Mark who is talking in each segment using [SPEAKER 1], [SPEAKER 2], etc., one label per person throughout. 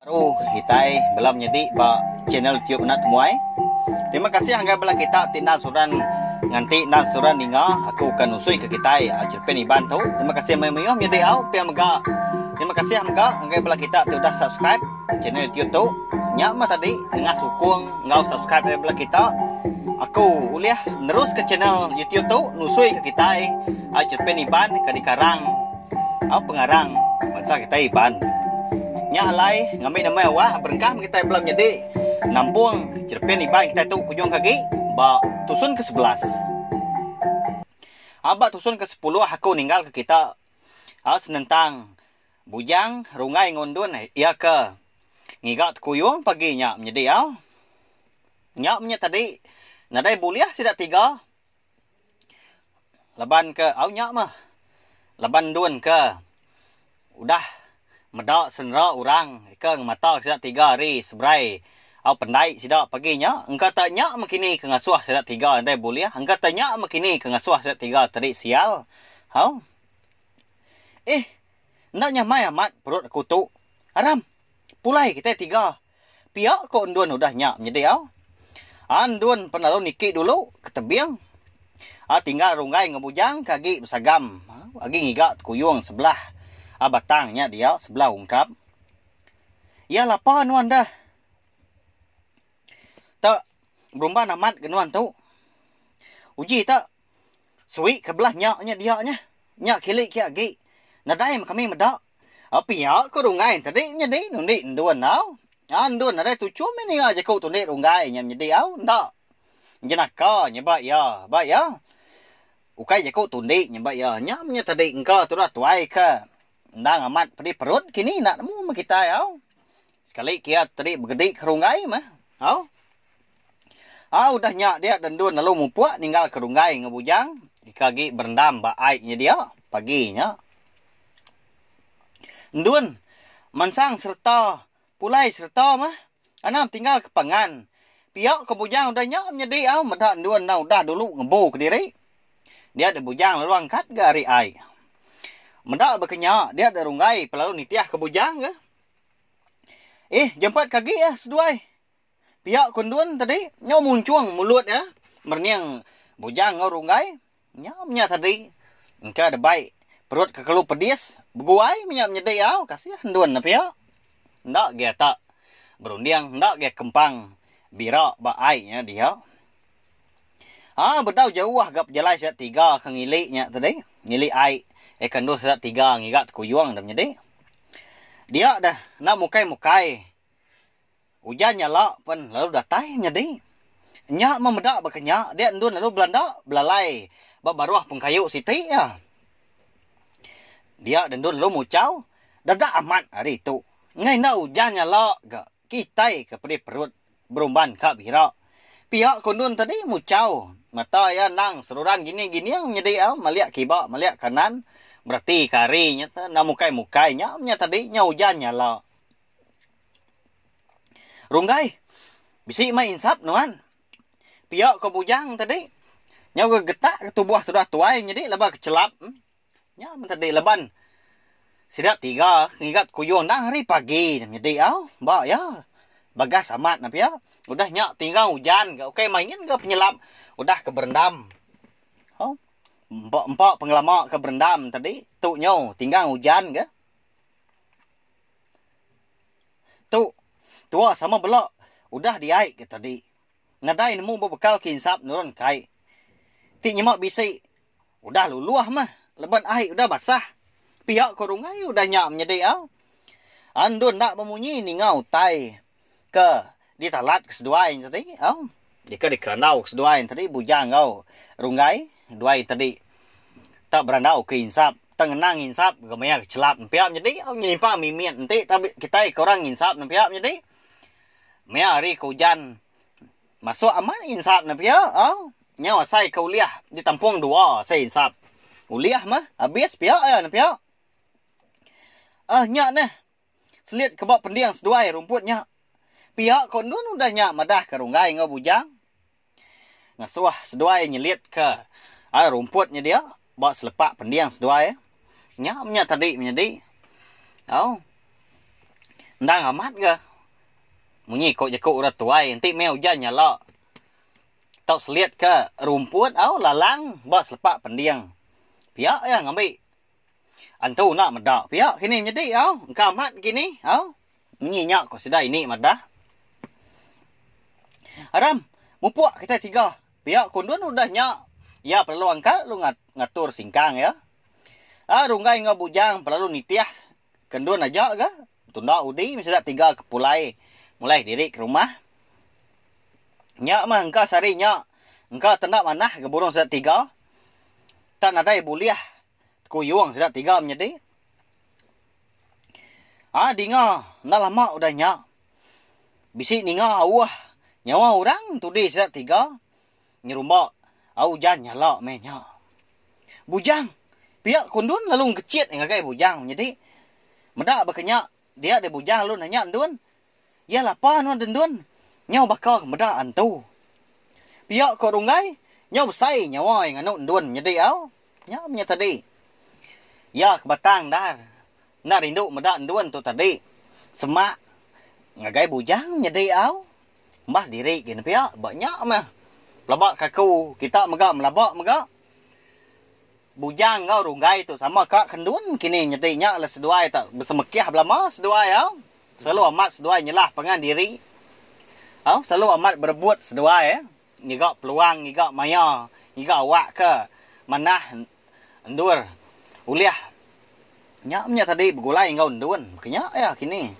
[SPEAKER 1] Baru kitai belum nyedi ba channel tube enda temuai. Terima kasih anggai bala kita ti enda suran nganti enda suran ninga aku ke nusui ke kitai Cherepin Iban tu. Terima kasih mayuh-mayuh menyedi au pia mega. Terima kasih mega anggai bala kita ti udah subscribe channel tube tu. Nya mah tadi nengah sukung enggau subscribe ari bala kita aku ulih neruska channel YouTube tu nusui ke kitai Cherepin Iban ke dikarang. Au pengarang bansa kitai Iban. Nya alai ngambi nama awak berengkah meh kitai bela menyadi nampung cherepin Iban kitai tu kujung ke agi ba tusun ke sebelas. Au ba tusun ke sepuluh aku ninggal ke kita. Au senentang Bujang Runggai enggau Endun iya ke ngiga tekuyung pagi nya menyadi au. Nya meh nya tadi nadai bulih sida tiga Laban ke au nya meh laban endun ke udah meda senera orang ke ngemata sida tiga hari seberai au pendai sida pagi nya engka te nya meh kini ke ngasuh sida tiga dei bulih engka te nya meh kini ke ngasuh sida tiga tadi sial hau eh enda nyamai amat perut aku tu aram pulai kitai tiga. Pia ko endun udah nya menyedi au. A endun pen lalu niki dulu ke tebing. A tinggal runggai enggau bujang ke agi besagam agi ngiga tekuyung sebelah a batang nya dia sebelah ungkap. Iya lapa nuan deh. Te berumban amat ke nuan tu. Uji te Suik ke belah nya nya dia nya. Nya kili kia agi. Nadai meh kami meda. Pia ko runggai tadi menyedi nundi endun au. Aa endun nadai tuchum meh ninga jaku tundi runggai nya menyedi au. Enda. Jenaka nya ba ia. Ba ia. Ukai jaku tundi nya ba ia. Nya menyatadi engka tudah tuai ke. Endang amat pedih perut kini enda nemu meh kitai au. Sekali kiat tadi begedi ke runggai meh au. Au udah nya dia de endun lalu mupuk ninggal ke runggai enggau bujang deka agi berendam ba ai nyedia pagi nya. Endun mansang sereta. Pulai sereta meh anang tinggal ke pangan. Pia ke bujang udah nya menyedi au meda endun endang udah dulu ngebu kediri. Dia deh bujang lalu angkat ga ari ai. Meda baka nya dia deh runggai pe lalu nitih ke bujang ga. Ih jempet ke agi ah seduai. Pia ke endun tadi nyau munchung mulut iya merening bujang enggau runggai. Nyau menya tadi engka debai perut kekelu pedis beguai menya menyedi au kasih endun ne pia. Enda gia tak berunding enda gia kempang bira ba ai nya dia. Ha bedau jauh ga pejalai sida tiga ke ngili nya tadi ngili ai eka endur sida tiga ngiga tekuyung da menyedi. Dia deh enda mukai mukai. Ujan nya la pen lalu datai nyadi. Nya meh meda baka nya dia endun lalu belanda belalai ba baruh pengkayu siti iya. Dia deh endun lalu muchau dada amat ari tu. Enggai enda ujan nya la ga kitai ke pedih perut berumban ka bira. Pia ko endun tadi muchau mata iya endang seruran gining gining nyadi au malik kiba malik kanan bereti ka ari nya te enda mukai mukai nya meh nya tadi nya ujan nya la. Runggai, bisi meh insap nuan. Pia ko bujang tadi, nyau ga getak ke tubuh tudah tuai nyadi laban ke chelap. Nya men tadi laban sida tiga ngiga kuyuh endang hari pagi nya nyadi au. Ba iya, bagas amat ne pia. Udah nya tinggal ujan ga ukai mah nyin ga penyelap udah ke berendam. Au, empa empa pengelama ke berendam tadi, tu nyau tinggal ujan ga. Tu. Tua sama bela. Udah diai ke tadi. Nadai nemu bebekal ke insap nurun kai. Ti nyema bisi. Udah luluh mah. Leban ai udah basah. Pia ko runggai udah nya menyedi a. An dun enda bemunyi ninga utai. ke ditalat ke seduai nya tadi au deka dikerandau ke seduai nya tadi bujang enggau runggai duai nya tadi tak berandau ke insap tak ngena nginsap ke maya ke chelap nempiak nyadi au nyelimpang mimit enti tau kitai ke orang nginsap nempiak nyadi maya hari ke ujan masuk amat insap nempiak au nyau asai ke ulih ditampung dua asai insap ulih mah habis pia aya nempiak um nya neh. Selit ke ba pending seduai rumput nya. Piak ko endun udah nya madah ke Runggai enggau Bujang ngasuh seduai nyelit ke ai rumput nya dia ba selepak pending seduai. Nya menya tadi menyadi au endang amat ga munyi ko jeku orang tuai enti meh ujan nyala tau selit ke rumput au lalang ba selepak pending. Piak iya ngambi. Antu enda meda pia kini menyedi au engka amat kini au munyi nya ko sida ini madah. Aram mupuk kitai tiga pia kundun udah nya iya pelalu angkat lalu ngatur singkang iya. A runggai enggau bujang pelalu nitih kendun aja ga tunda udi meh sida tiga ke pulai mulai diri ke rumah. Nya mah engka sehari nya engka tenda manah ke burung sida tiga. Tang nadai bulih tekuyung sida tiga menyedi. Ai dinga enda lama udah nya bisi ninga auh nyawa orang tudi sida tiga nyerumba au ujan nyala meh nya. Bujang pia kundun lalu ngechit ngagai bujang menyedi. Meda baka nya dia deh bujang lalu nanya endun, Iya lapa nuan dendun nyau baka meda antu. Pia ko Runggai nyau besai nyawa iya nganu endun nyedi au. Nya menya tadi. Iya ke Batang Dar enda rindu meda endun tu tadi. Semak ngagai bujang nyedi au. Embas diri gin pia ba nya meh. Pelaba ke aku kita mega melaba mega. Bujang enggau runggai tu sama ka kendun kini nyadi nya le seduai ta besemekih belama seduai au selalu amat seduai nyelah pangan diri au selalu amat berebut seduai ngiga peluang ngiga maya ngiga awak ke manah endur ulih nya menya tadi begulai enggau endun maka nya iya kini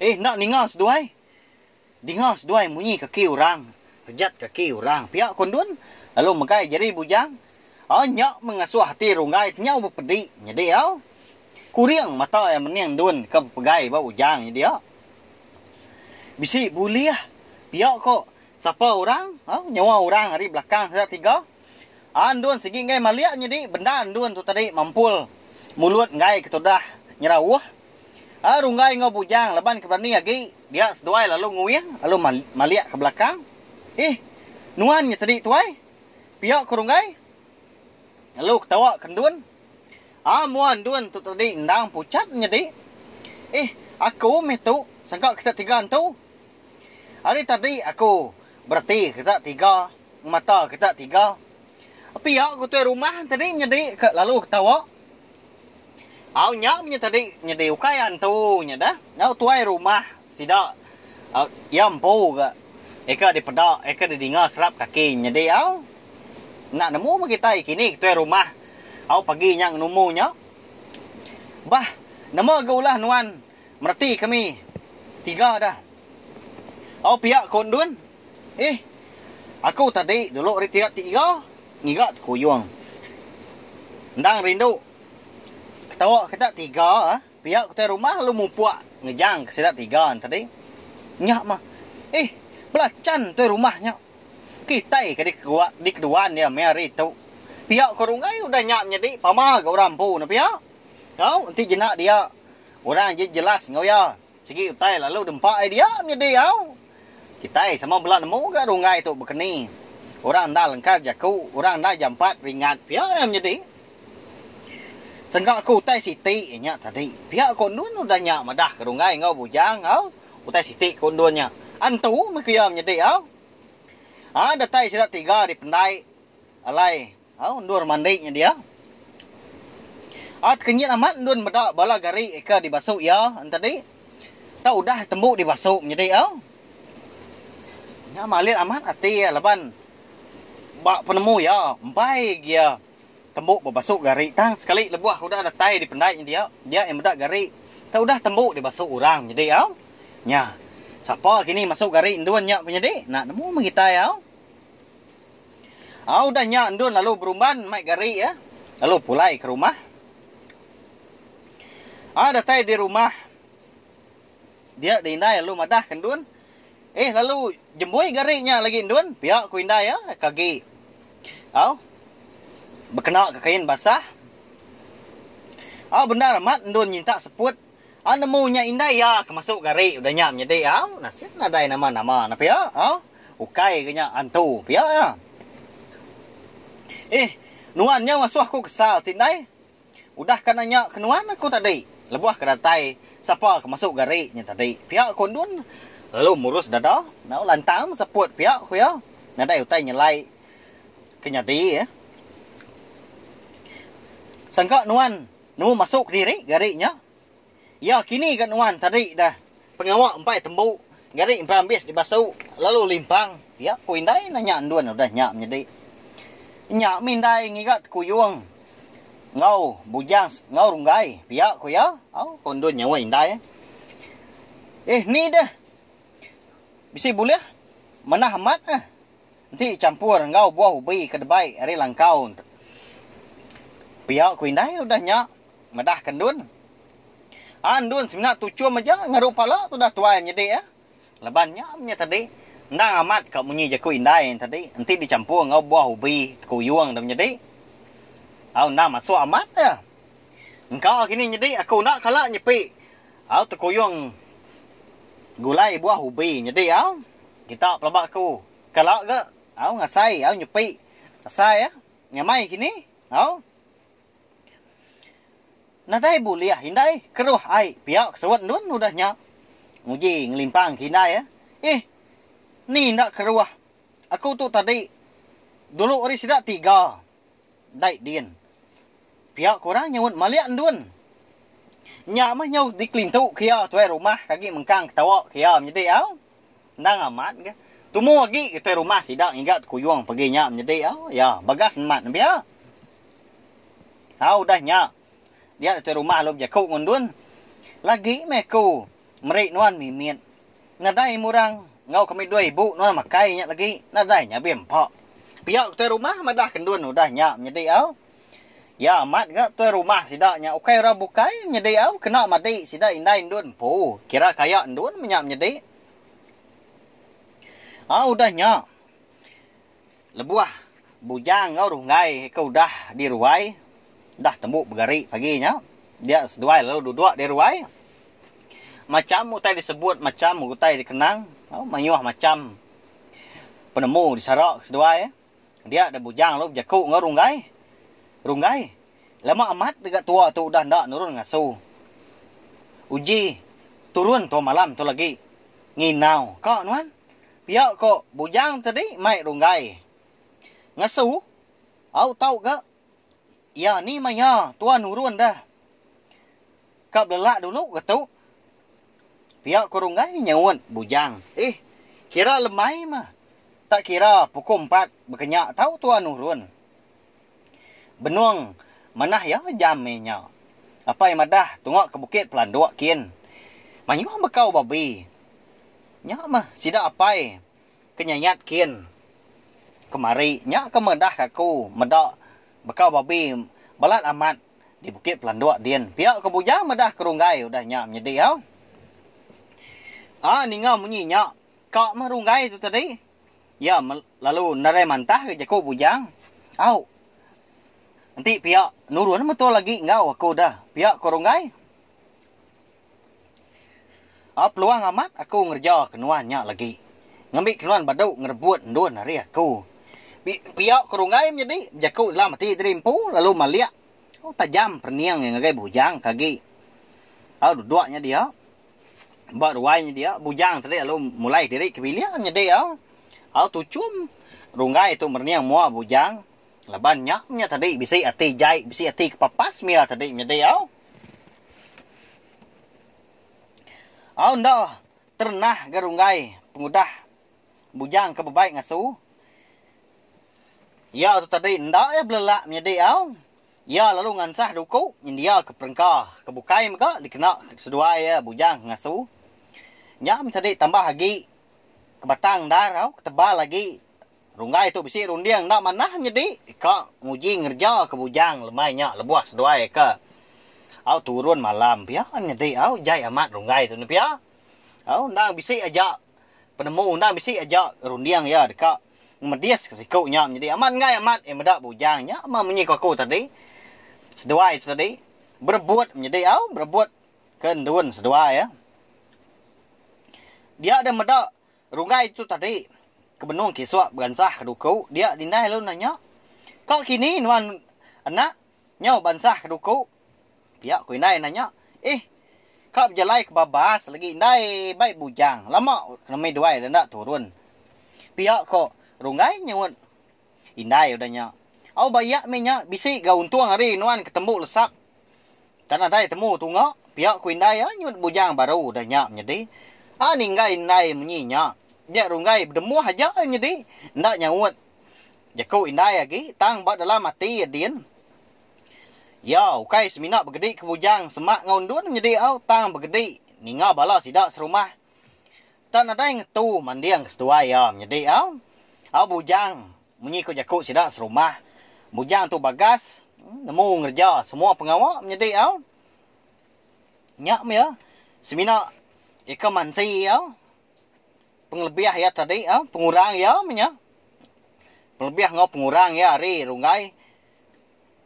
[SPEAKER 1] eh enda ninga seduai. Dinga seduai munyi kaki orang, pejat kaki orang pia ko Ndun lalu megai jari bujang. Ai nya mengasuh ati Runggai tenyau bepedi nyadi au. Kuring mata iya mening Ndun ke bepegai ba Ujang nyadi au. Bisi bulih pia ko sapa orang au nyawa orang ari belakang sida tiga. Aa endun sigi enggai malik nyadi bendar endun tu tadi mempul mulut enggai ketudah nyerauh. Aa runggai enggau bujang laban ke berani agi dia seduai lalu nguing lalu malik ke belakang. Ih nuan nya tadi tuai pia ku runggai lalu ketawa ke endun. Aa mua endun tu tadi endang puchat nyadi. Ih aku meh tu sangka kita tiga entu. Ari tadi aku bereti kita tiga. Mata kita tiga. Pia ku tuai rumah tadi nyedi ka lalu ketawa. Au nya menya tadi nyedi ukai antu nya dah. Au tuai rumah sida au iya empu ga eka dipeda eka didinga serap kaki nyedi au enda nemu meh kitai kini ke tuai rumah au pagi nya ngenumu nya. Bah nama ga ulah nuan mereti kami tiga dah. Au pia ku endun. Ih, aku tadi dulu ari tiga tiga ngiga tekuyung. Endang rindu ketawa kita tiga pia utai rumah lalu mupuk ngejang ke sida tiga tadi. Nya mah. Ih, belachan utai rumah nya. Kitai ke dikeduan iya meh hari tu. Pia ko Runggai udah nya menyadi pama ga orang empu ne pia. Tau enti jena dia orang je jelas enggau iya. Sigi utai lalu dempa idea nyedi au. Kitai sama bela nemu ga runggai tu bekeni. Orang endar lengkas jaku, orang endar jampat ringat pia iya menyedi. Sengka ku utai siti iya nya tadi. Pia ko endun udah nya madah ke runggai enggau bujang au. Utai siti ko endun nya. Antu meh ku iya menyedi au. Haa datai sida tiga dipendai alai. Au endur mandi nyedia. At kenyit amat endun meda bala gari eka dibasu iya entedi tau udah tembu dibasu menyedi au. Nya malit amat ati iya laban ba penemu iya empai agi iya tembu bebasu gari tang sekali lebuh udah datai dipendai nyedia dia iya meda gari tau udah tembu dibasu orang menyedi au. Nya sapa kini masu gari endun nya menyedi enda nemu meh kitai au. Au udah nya endun lalu berumban mai gari iya lalu pulai ke rumah. Au datai di rumah dia di indai lalu madah ke endun, Eh lalu jembui gari nya lagi endun pia ku indai iya ke agi au bekena ke kain basah. Au bendar amat endun nyintak seput. Au nemu nya indai iya ke masuk gari udah nya menyedi au nasin nadai nama nama nah pia au ukai ga nya antu pia iya ih nuan nyau asuh aku kesal ti indai udah ka nanya ke nuan aku tadi lebuh ka datai sapa ke masuk gari nya tadi pia ku endun lalu murus dada au lantang beseput pia ku iya nadai utai nyelai ke nyadi sangka nuan. Nemu masuk kediri gari nya. Iya kini ga nuan tadi dah. Pengawa empai tembu gari empai ambis dibasu lalu limpang pia ku indai nanya endun udah nya menyedi. Nya mih indai ngiga tekuyung enggau bujang enggau runggai pia ku iya. Au ko endun nyawa indai ai. Eh ni deh. Bisi bulih manah amat eh. Enti champur enggau buah ubi ke debai ari langkau enti pia ku indai udah nya medah ke endun. A endun semina tuchum aja ngeru pala tudah tuai menyedi iya laban nya menya tadi endang amat ka munyi jaku indai nya tadi enti di champur enggau buah ubi tekuyung dah menyedi au endang masuk amat iya. Engka kini nyedi aku enda kala nyepi. Au tekuyung gulai buah ubi nyedi au kita pelaba aku kala ga au ngasai au nyepi asai ya nyamai kini au nadai bulih indai keruh ai pia kesuat endun udah nya nguji ngelimpang ke indai ya ih ni enda keruh aku tu tadi dulu ari sida tiga. Dai din. Pia ku orang nyaunt malik endun. Nya mah nyau dikelintu ke iya tuai rumah ke agi mengkang ketawa ke iya menyedi au. Endang amat ga. Tumu agi ga tuai rumah sida ngiga tekuyung pagi nya menyedi au. Ya, Bagas nemat nembiak. Au udah nya. Dia datu rumah lalu bejaku enggau endun, Lagi meh aku meri nuan mimit. Nadai murang enggau kami dua ibu nuan makai nya lagi, nadai nya be empa. Pia ku tuai rumah madahka endun udah nya menyedi au. Iya amat ga tuai rumah sida nya ukai orang bukai menyedi au kena madi sida indai endun empu kira ka iya endun meh nya menyedi. Au udah nya. Lebuh Bujang enggau Runggai ke udah di ruai, udah tembu begari pagi nya, dia seduai lalu duduk di ruai. Macham utai disebut, macham utai dikenang, mayuh macham penemu disara ke seduai. Dia deh Bujang lalu bejaku enggau Runggai, Runggai, lama amat dega tua tu udah enda nurun ngasu. Uji turun tua malam tu lagi. Nginau ka nuan? Pia ko bujang te di mai runggai. Ngesu, au tau ga ia ni maya tua nurun deh. Ka belelak dulu ga tu. Pia ko runggai nyaut bujang. Ih, kira lemai meh. Tak kira puku empat bekenyak tau tua nurun. Benung, manah iya jami nya. Apai madah tunga ke bukit pelanduk kin. Mayuh bekau babi. Nya meh sida apai ke nyayat kin. Kemari nya ke madah ka aku meda bekau babi balat amat di bukit pelanduk din. Pia ke bujang madah ke runggai udah nya menyedi au. A ninga munyi nya ka meh runggai tu tadi. Iya lalu nadai mantah ke jaku bujang, Au. Enti pia nurun metul agi enggau aku da. Pia ko Ronggai. Au peluang amat aku ngereja ke nuan nya lagi. Ngambi ke nuan badu ngerebut endun ari aku. Pia ko Ronggai menyadi bejaku dalam ati diri empu lalu malik. Au tajam perening iya ngagai bujang ke agi. Au duduk nya dia. Ba ruai nyedia bujang tadi lalu mulai diri ke bilik nyedai au. Au tuchum runggai tu merening mua bujang laban nya nya tadi bisi ati jai bisi ati kepapas mia tadi nyedai au. Au enda terenah ga runggai pengudah bujang ke bebai ngasu. Iya tu tadi enda iya belelak menyedai au. Iya lalu ngansah duku nyendiaka perengka ke bukai mega dikena seduai iya bujang ngasu. Nya meh tadi tambah agi ke batang endar tau ke tebal agi runggai tu bisi runding enda manah nyedi ka nguji ngereja ke bujang lemai nya lebuh seduai ke au turun malam pia nyedi au jai amat runggai tu ne pia au endang bisi aja penemu endang bisi aja runding iya deka Ngemedis ke siku nya menyadi amat enggai amat iya meda bujang nya meh munyi ku aku tadi seduai tu tadi berebut menyadi au berebut ke endun seduai ya dia deh meda runggai tu tadi ke benung kisuk beransah ke duku dia dindai lalu nanya ka kini nuan anak nyau beransah ke duku. Pia ku indai nanya. Ih. Ka bejalai ke babas lagi indai bai bujang. Lama kena mih duai udah enda turun. Pia ko Runggai nyuut indai udah nya. Au ba iya mih nya bisi ga untung ari nuan ke tembu lesap. Tan nadai temu tunga. Pia ku indai iya nyuut bujang baru udah nya menyedi. A ninggai indai munyi nya. Dia Runggai bedembuh aja iya nyedi enda nyaut. Jaku indai agi tang ba dalam ati iya din. Iya ukai semina begedi ke bujang semak enggau endun nyedi au tang begedi ninga bala sida serumah. Enda nadai ngetu manding ke seduai iya menyedi au. Au bujang, munyi ku jaku sida serumah, bujang tu bagas, nemu ngereja semua pengawa menyedi au. Nya meh semina ika mansi iya, pengelebih iya tadi au, pengurang iya meh nya. Pengelebih enggau pengurang iya ari runggai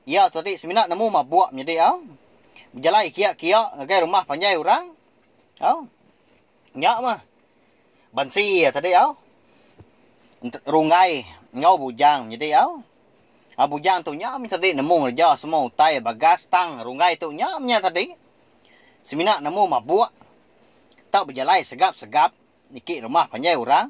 [SPEAKER 1] Iya tadi semina nemu mabuk menyadi au. Bejalai kia-kia ngagai rumah panjai orang. Au. Nya mah. Bansi iya tadi au. Runggai enggau bujang menyadi au. Au bujang tu nya mih tadi nemu ngereja semua utai bagas tang runggai tu nya mih tadi semina nemu mabuk tau bejalai segap-segap niki rumah panjai orang.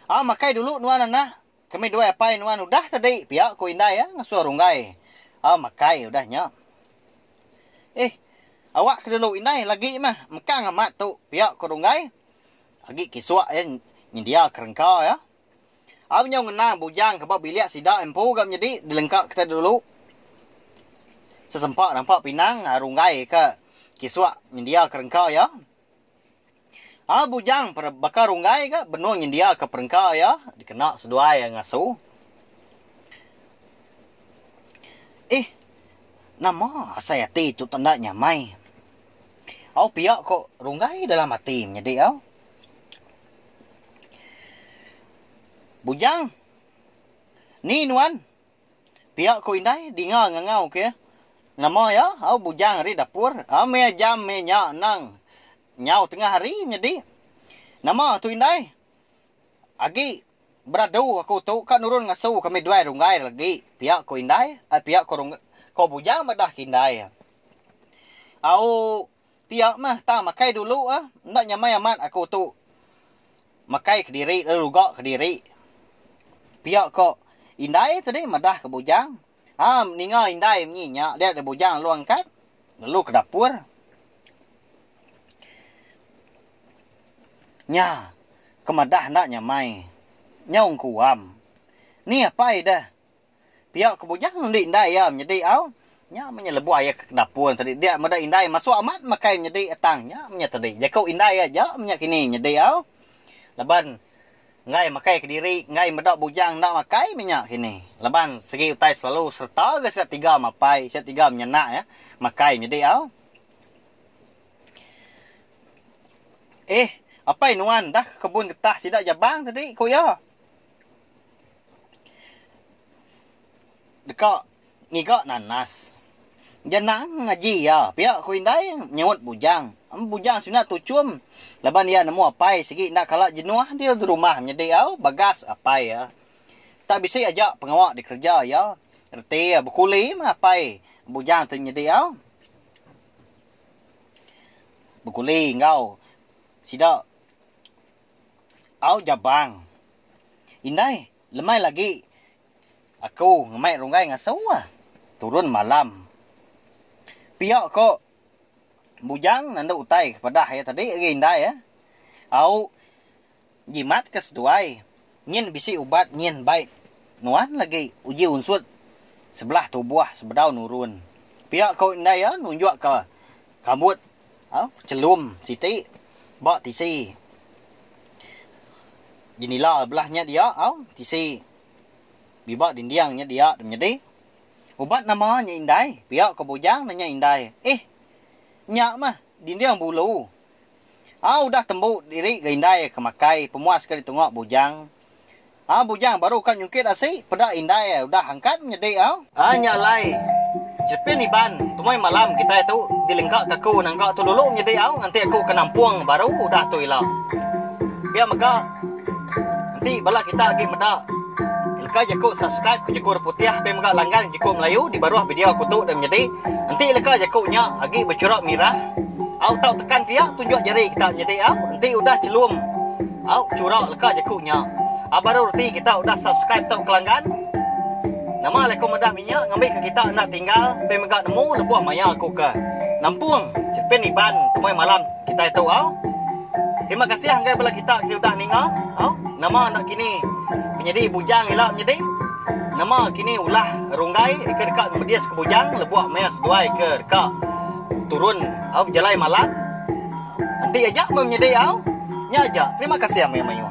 [SPEAKER 1] Au makai dulu nuan anak. Kami dua apai nuan udah tadi pia ku indai iya ngasuh runggai au makai udah nya. Ih awak ke dulu indai lagi mah mekang amat tu pia ku runggai agi kisuk iya nyendia ke rengka iya. Au nyau ngena bujang ke ba bilik sida empu ga menyedi dilengka kita dulu. Sesempa rampa pinang runggai ka kisuk nyendia ke rengka iya. Aa bujang per baka runggai ga benung nyendiaka perengka iya dikena seduai ngasu. Ih, nama asai ati tu tenda nyamai. Au pia ko runggai dalam ati menyedi au. Bujang, ni nuan? Pia ku indai dinga ngangau ke nama iya au bujang ari dapur au meh jam meh nya anang nyau tengah hari nyadi nama tu indai agi beradu aku tu ka nurun ngasu kami duai runggai lagi pia ku indai ai pia ko bujang madah ke indai au. Pia mah tang makai dulu ah enda nyamai amat aku tu. Makai kediri lalu luga kediri. Pia ko indai tadi madah ke bujang. Ha ninga indai menyi nya dia deh bujang lalu angkat lalu ke dapur. Nya ke madah enda nyamai. Nyau engkuam. Ni apai deh Pia ke bujang endi indai iya menyedi au. Nya menyelebuh iya ke kedapur tadi dia meda indai masuk amat makai menyedi tang nya menya tadi jaku indai iya aja menya kini nyedi au. Laban enggai makai kediri enggai meda bujang enda makai menya kini. Laban segi utai selalu sereta ga sida tiga mapai sida tiga menyenak iya makai menyedi au. Eeh apai nuan dah ke kebun getah sida jabang tadi ku iya. Deka ngiga nanas. Nya nang ngaji iya. Pia ku indai nyautt bujang. Bujang semina tuchum laban iya nemu apai sigi enda kala jenuh diri di rumah nyadi au bagas apai iya. Tak bisi aja pengawa dikereja iya reti bekuli meh apai bujang ti nyadi au bekuli enggau sida. Au Jabang. Indai, lemai lagi aku ngemai runggai ngasu ah. Turun malam. Pia ko Bujang nandu utai ke pedah iya tadi agi indai ah. Au jimat ke seduai nyin bisi ubat nyin bai nuan lagi uji unsut sebelah tubuh sebedau nurun. Pia ko indai iya nunjuk ke rambut. Chelum siti ba tisi jenila belah nya dia tisi biba dinding nya dia tu menyadi ubat nama nya indai pia ko bujang nanya indai eh nya mah dinding bulu udah tembu diri ga indai ke makai pemuas ke ditunga bujang. Au bujang baru ka nyungkit asi peda indai udah angkat nyedi au. Ai nya alai. Chepin Iban, tumai malam kitai tu dilengka ka aku nangka tu dulu nyedi au nganti aku ke nampung baru udah tu ila. Pia mega enti bala kita agi meda leka jaku subscribe ke jaku reputih pia mega langgang jaku melayu di baruh video aku tu deh menyedi enti leka jaku nya agi bechurak mirah au tau tekan pia tunjuk jari kita nyedi au enti udah chelum. Au churau leka jeku nya. A baru reti kita udah subscribe tau kelanggan. Nama alai ko madah minya ngambi ke kita enda tinggal pin mega nemu lebuh maya ko ke nampung pin iban kemai malam kitai tu au. Terima kasih anggai bala kita ke udah ninga au. Nama enda kini penyedi bujang ila menyedi. Nama kini ulah runggai ke deka ngemedis ke bujang lebuh maya seduai ke deka turun au bejalai malam. Enti aja meh menyedi au. Nya aja. Terima kasih amai mayuh.